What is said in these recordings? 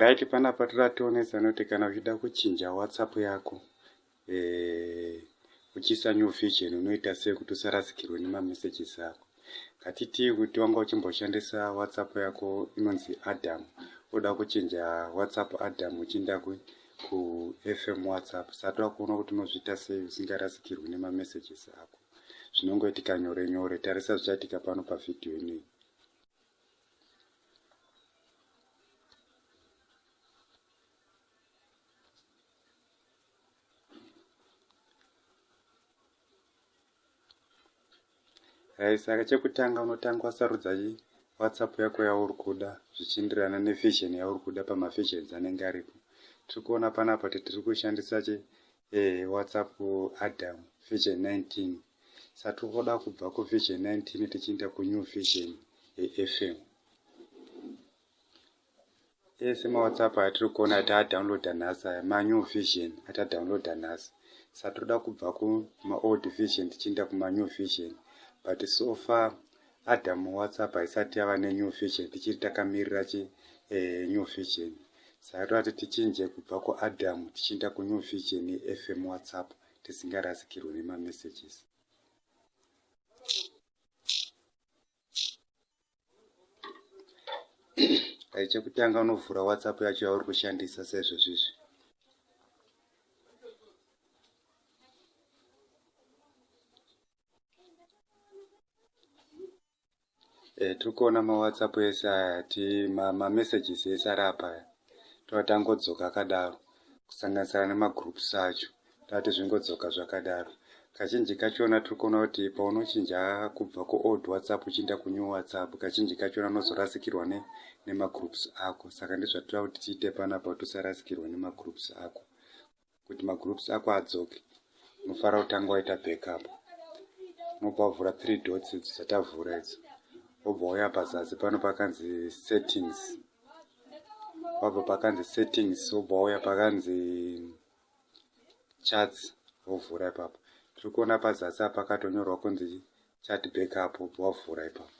right panapa toda tionesa noti kana uchida kuchinja whatsapp yako eh, uchiisa new vision unoita sei kuti usarasikirwe nemamessages ako ngatitii kuti wanga uchimboshandisa whatsapp yako inonzi adam oda kuchinja whatsapp adam uchiinda kufm whatsapp sati wakuona kuti unozviita sei usingarasikirwi nemamessages ako zvinongoitika nyore nyore tarisa zvichaitika pano pavhidhiyo inei Eh, saka chekutanga unotanga wasarudza whatsapp yako yauri kuda zvichienderana nevision yauri kuda pamavisions anenge aripo tiri kuona panapa kuti tiri kushandisa che eh, whatsapp adam vision 19 satomboda kubva kuvision 19 tichienda kunew vision yefm ese mawhatsapp atiri kuona ati adownloada nhasi aya manew vision atadownloada nhasi satoda kubva kumaold vision tichienda kumanew vision but so far adam whatsapp haisati yava nenew vision tichiri takamirira chi eh, new vision saka toti tichinje kubva kuadam tichienda kunew vision yefm whatsapp tisingarasikirwe nemamessages dai chekutanga unovhura whatsapp yacho yauri kushandisa sezvo zvizvi Eh, tiri kuona mawhatsapp ese aya ti mamessages ma ese ari apa aya tova tangodzoka akadaro kusanganisira nemagroups acho tati zvingodzoka zvakadaro kazhinji kachona tiri kuona kuti paunochinja kubva kuold whatsapp uchiinda kunew whatsapp kazhinji kachona unozorasikirwa ne, nemagroups ako saka ndizvatira kuti tiite panapa kuti usarasikirwe nemagroups ako kuti magroups ako adzoke unofanira kutanga waita backup unobva wavhura three dots idzo dzatavhura idzo wobva wauya pazasi pano pakanzi settings wabva pakanzi settings wobva wauya pakanzi charts wovhura ipapo tiri kuona pazasi apa pakatonyorwa kunzi chat backup wobva wavhura ipapo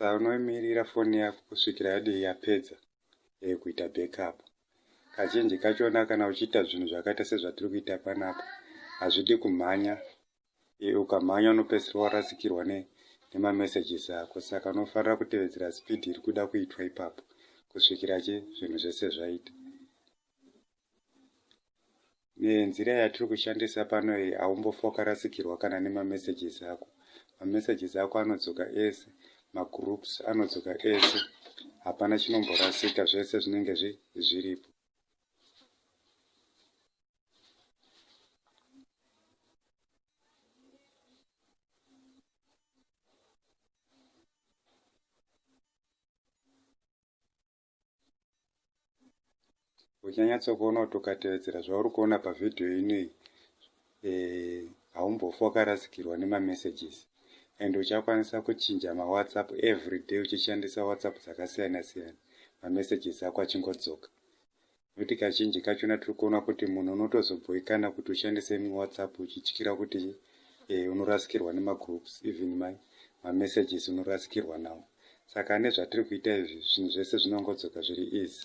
sa unoimirira foni yako kusvikira yadii yapedza e, kuita backup kazhinji kachona kana uchiita zvinhu zvakaita sezvatiri kuita panapa hazvidi kumhanya e, ukamhanya unopedzisira warasikirwa ne nemamessages ako saka unofanira kutevedzera speed iri kuda kuitwa ipapo kusvikira chi zvinhu zvese zvaita nenzira yatiri kushandisa pano iyi haumbofokarasikirwa kana nemamessages ako mamessages ako anodzoka ese magroups anodzoka ese hapana chinomborasika zvese zvinenge zviripo uchanyatsokuona kuti ukatevedzera zvauri kuona pavhidhiyo inei eh, haumbofa wakarasikirwa nemamessages and uchakwanisa kuchinja mawhatsapp every day uchishandisa whatsapp dzakasiyana siyana mamessages ako achingodzoka Nekuti kazhinji kachona tiri kuona kuti munhu unotozobhoikana kuti ushandise imwe whatsapp uchityira kuti eh, unorasikirwa nemagroups even my mamessages unorasikirwa nawo saka ane zvatiri kuita izvi zvinhu zvese zvinongodzoka zviri easy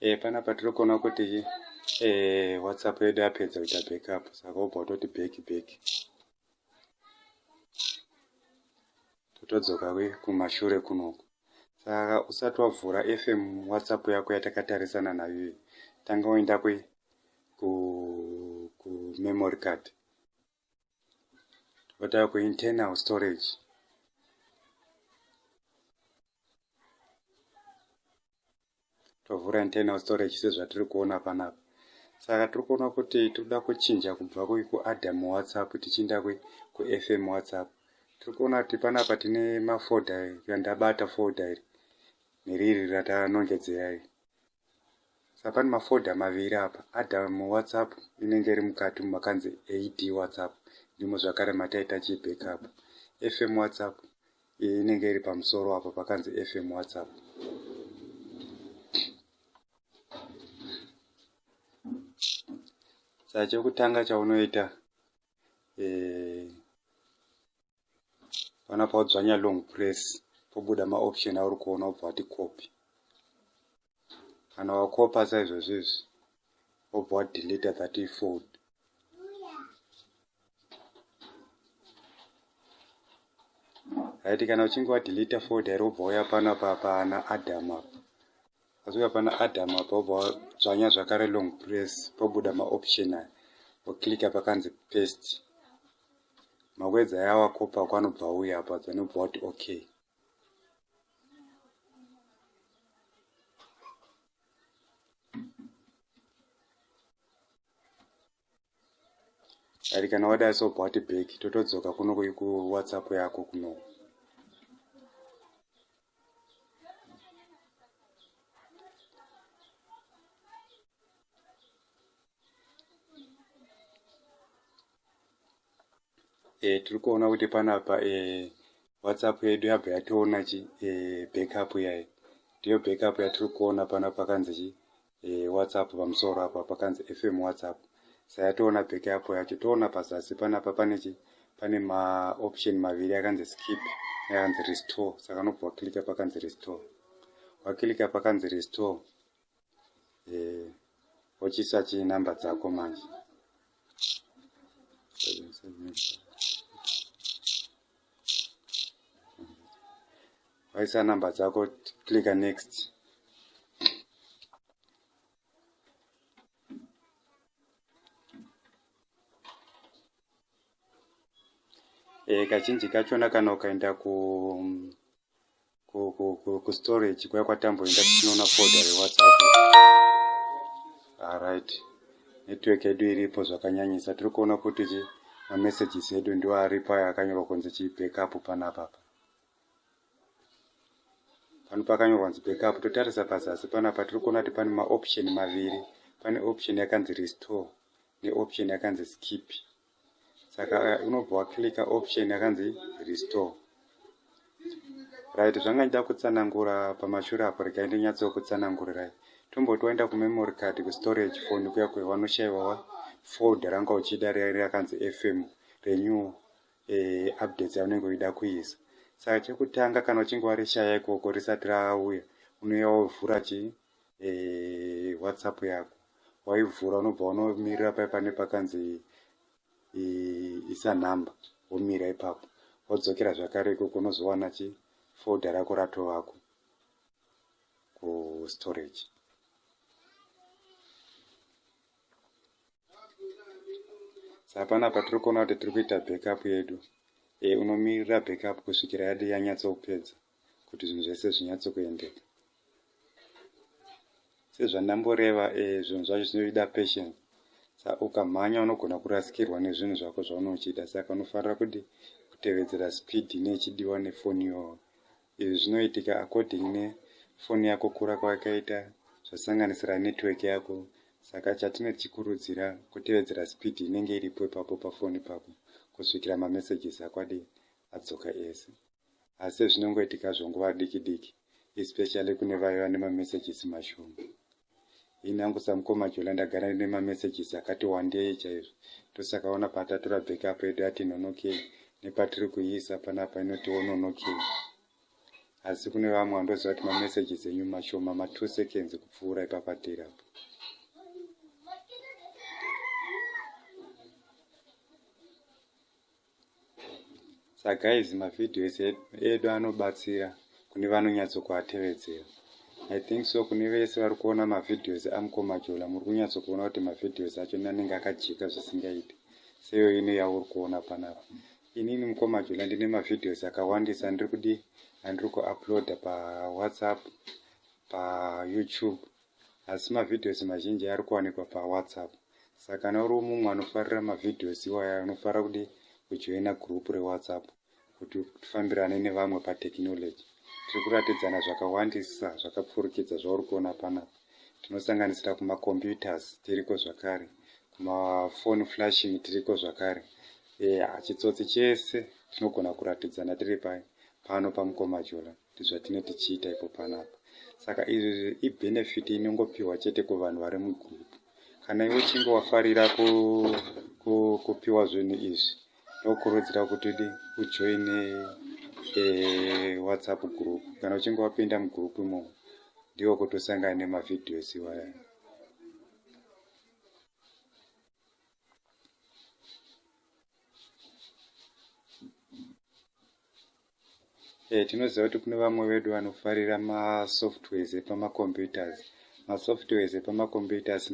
eh, panapa tiri kuona kuti eh, whatsapp yedu yapedza kuita backup saka wobva utoti back back totodzoka kumashure kunoku saka usati wavhura fm whatsapp yako yatakatarisana nayo iyi tanga woenda kumemory card votaura kuinternal storage tovhura internal storage sezvatiri kuona panapa saka tiri kuona kuti tinoda kuchinja kubva kuadam whatsapp tichiinda kufm whatsapp tiri kuona kuti panapa tine mafoda yandabata foda iri neriri ratanongedzera iri sapani mafolder maviri apa adam whatsapp inenge iri mukati mumakanzi ad whatsapp ndimo zvakare mataita chibackup fm whatsapp iyi inenge iri pamusoro apo pakanzi fm whatsapp saa chekutanga chaunoita eh, panapa odzvanya long press pobuda maoption auri kuona obva wati copy kana wakopa saizvozvo izvi obva wadeleta that ifold haiti kana uchinge wadeleta fold iri obva uya pano papana adam apa asi uya pana adam apa obva wadzvanya zvakare long press pobuda maoption aya woclicka pakanzi paste makwedza aya wakopa kwanobva uya apa dzinobva kuti okay ari kana wadai sobva wati bheki totodzoka kuno kuwhatsapp yako kuno e, tiri kuona kuti panapa e, whatsapp yedu yabva yatoona chi e, backup yayo ndiyo backup yatiri kuona pano pakanzi chi e, whatsapp pamusoro apa pakanzi fm whatsapp sayatoona backup yacho toona pazasi panapa pane chi pane maoption maviri akanzi skip neakanzi restore saka unobva wakilika pakanzi restore wakilika pakanzi restore eh, ochisa chi number dzako manje waisa number dzako clicka next e, kazhinji kachona kana ukaenda ku kustorage kuya kwatamboenda tichinoona foda rewhatsapp arit ah, network yedu iripo zvakanyanyisa tiri kuona kuti chi mamessages edu ndiwo aripo aya akanyorwa kunzi chi backup panapa pa pano pakanyorwa kunzi backup totarisa pazasi panapa tiri kuona kuti pane maoption maviri pane option yakanzi restore neoption yakanzi skip saka eh, unobva waclicka option yakanzi restore right zvanga ndida kutsanangura pamashure apo regai ndinyatsokutsanangurirai tomboti waenda kumemory card kustorage phone kuya kuya wanoshaiwawa fold ranga uchida riya rakanzi fm renew eh, updates yaunenge uida kuisa saka chekutanga kana uchinge warishaya ikoko risati rauya unoya wovhura chi e, whatsapp yako waivhura unobva unomirira paye pane pakanzi isa number womira ipapo wodzokera zvakare ikoko unozowana chi folder rako ratovako kustorage sapana patiri kuona kuti tiri kuita backup yedu e, unomirira backup kusvikira yadi yanyatsokupedza kuti zvinhu zvese zvinyatso kuendeka sezvandamboreva eh, zvinhu zvacho zvinoida patience sa ukamhanya unogona kurasikirwa nezvinhu zvako zvaunochida saka unofanira kuti kutevedzera speed nechidiwa nefoni yoo izvi zvinoitika according nefoni yako kura kwayakaita zvasanganisira network yako saka chatine tichikurudzira kutevedzera speed inenge iripo ipapo pafoni pako kusvikira mamessages akwadi adzoka ese asi zvinongoitika zvonguva diki diki especially kune vaye vane mamessages mashoma ini hangu samukoma jola ndagara ine mamessages akati wandei chaizvo ndosaka ona patatora backup yedu yati nonokei nepatiri kuiisa panapa inoti wononokei asi kune vamwe vandoziva kuti mamessages enyu mashoma matwo seconds kupfuura ipapatiri apo sa guys mavideos edu anobatsira kune vanonyatsokuatevedzera i think so kune vese vari kuona mavideos amukomajola muri kunyatsokuona kuti mavideos acho nanenge akajika zvisingaiti seyo ino yauri kuona panapa inini mukomajola ndine mavideos akawandisa andiri kudi andiri kuuploada pawhatsapp payoutube asi mavideos mazhinji ari kuwanikwa pawhatsapp saka kana uri mumwe anofarira mavideos iwaya unofanira kudi kujoina group rewhatsapp kuti tifambirane nevamwe patechnology tiri kuratidzana zvakawandisa zvakapfurikidza zvauri kuona panapa tinosanganisira kumacomputers tiriko zvakare kumafoni flashing tiriko zvakare eya chitsotsi chese tinogona kuratidzana tiri pai pano pamukoma jolan ndozvatine tichiita ipo panapa saka izvi ibenefit inongopiwa chete kuvanhu vari mugroup kana iwe uchinge wafarira kupiwa zvinhu izvi ndokurudzira kuti di ujoine eh, whatsapp group kana uchinge wapinda mugroup imomo ndiwo kuti usangane nemavideos iwaya Eh, tinoziva kuti kune vamwe vedu vanofarira masoftwares epamacomputers masoftwares epamacomputers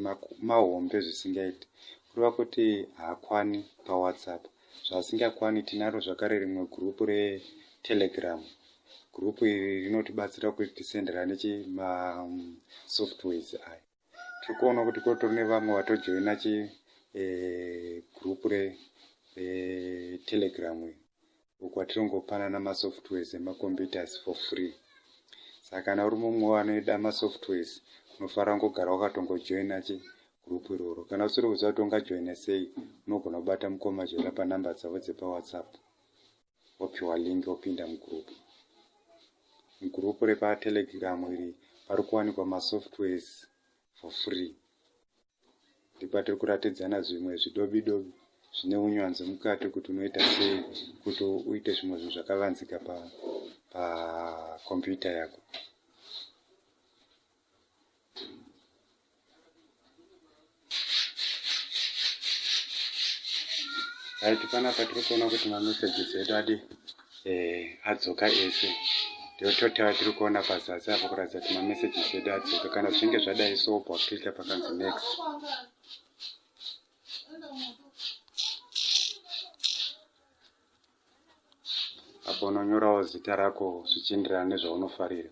mahombe zvisingaiti kureva kuti haakwani pawhatsapp zvaasingakwani tinaro zvakare rimwe gurupu retelegram gurupu iri rinotibatsira kuti tisenderane masoftwares aya tiri kuona kuti kotori nevamwe vatojoina chi eh, group re eh, telegram uko atirongopanana masoftwares emacomputers for free saka kana uri mumwe wanoida masoftwares unofanira kungogara wakatongojoina chi group iroro kana usiri kuziva kuti ungajoina sei unogona kubata mukoma joina panumber dzavo dzepawhatsapp wopiwa link wopinda mugroup mugroup repatelegram iri pari kuwanikwa masoftwares for free ndipatiri kuratidzana zvimwe zvidobi dobi zvine unyanzvi mukati kuti unoita sei kuti uite zvimwe zvinhu zvakavanzika pakompyuta pa yako right panapa tiri kuona kuti mamessages edu adi eh, adzoka ese ndiyototava tiri kuona pazasi apo kuratidza kuti mamessages edu adzoka kana zvichinge zvadai so bwakutita pakanzi next apo unonyorawo zita rako zvichienderana nezvaunofarira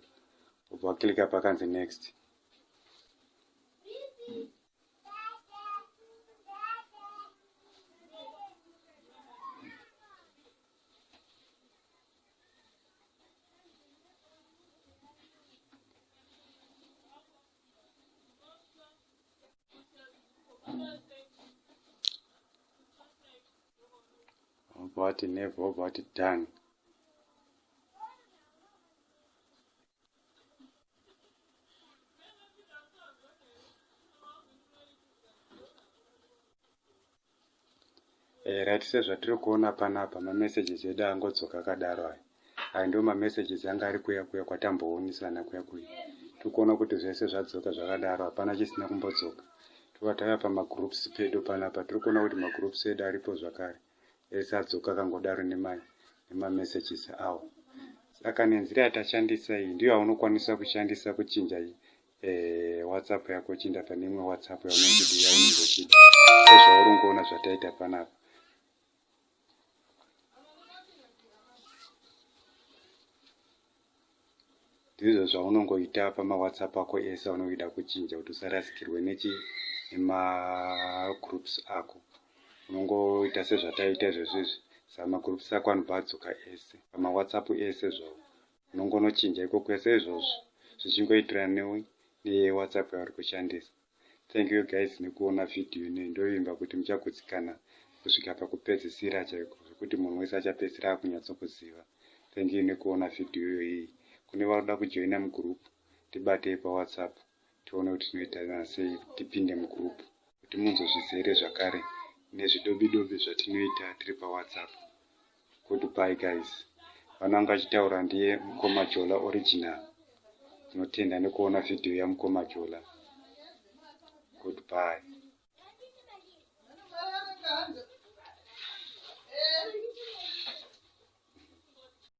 ubva waklika pakanzi next vobva vati never vobva vati done eh, right sezvatiri kuona panapa mamessages edu angodzoka akadaro aya ayo ndiwo mamessages anga ari kuya kuya kwatamboonesana kuya kuya tikuona kuti zvese zvadzoka zvakadaro hapana chisina kumbodzoka tova tava pamagroups pedu panapa tiri kuona kuti magroups edu aripo zvakare ese adzoka kangodaro nemamessages awo saka nenzira yatashandisa iyi ndiyo yaunokwanisa kushandisa kuchinja eh, whatsapp yako chinda pane imwe whatsapp yaunenge uchida sezvauri ungoona zvataita panapa ndizvo zvaunongoita pamawhatsapp ako ese aunoida kuchinja kuti usarasikirwe nechi nemagroups ako unongoita sezvataiita izvezvo izvi saka magroups ako anobva adzoka ese pamawhatsapp ese zvawo unongonochinja iko kwese izvozvo zvichingoitirana newhatsapp yauri kushandisa thank you guys nekuona video inoyi ndovimba kuti muchagutsikana kusvika pakupedzisira chaiko zvekuti munhu wese achapedzisira akunyatsokuziva thank you nekuona video iyoyi kune vanoda kujoina mugroup tibatei pawhatsapp tione kuti tinoitana sei tipinde mugroup kuti munzozvizere zvakare nezvidobidobi zvatinoita tiri pawhatsapp Goodbye guys. Vana vanga chitaura ndiye mkoma Jola original. Tinotenda nekuona video ya mkoma Jola. Goodbye.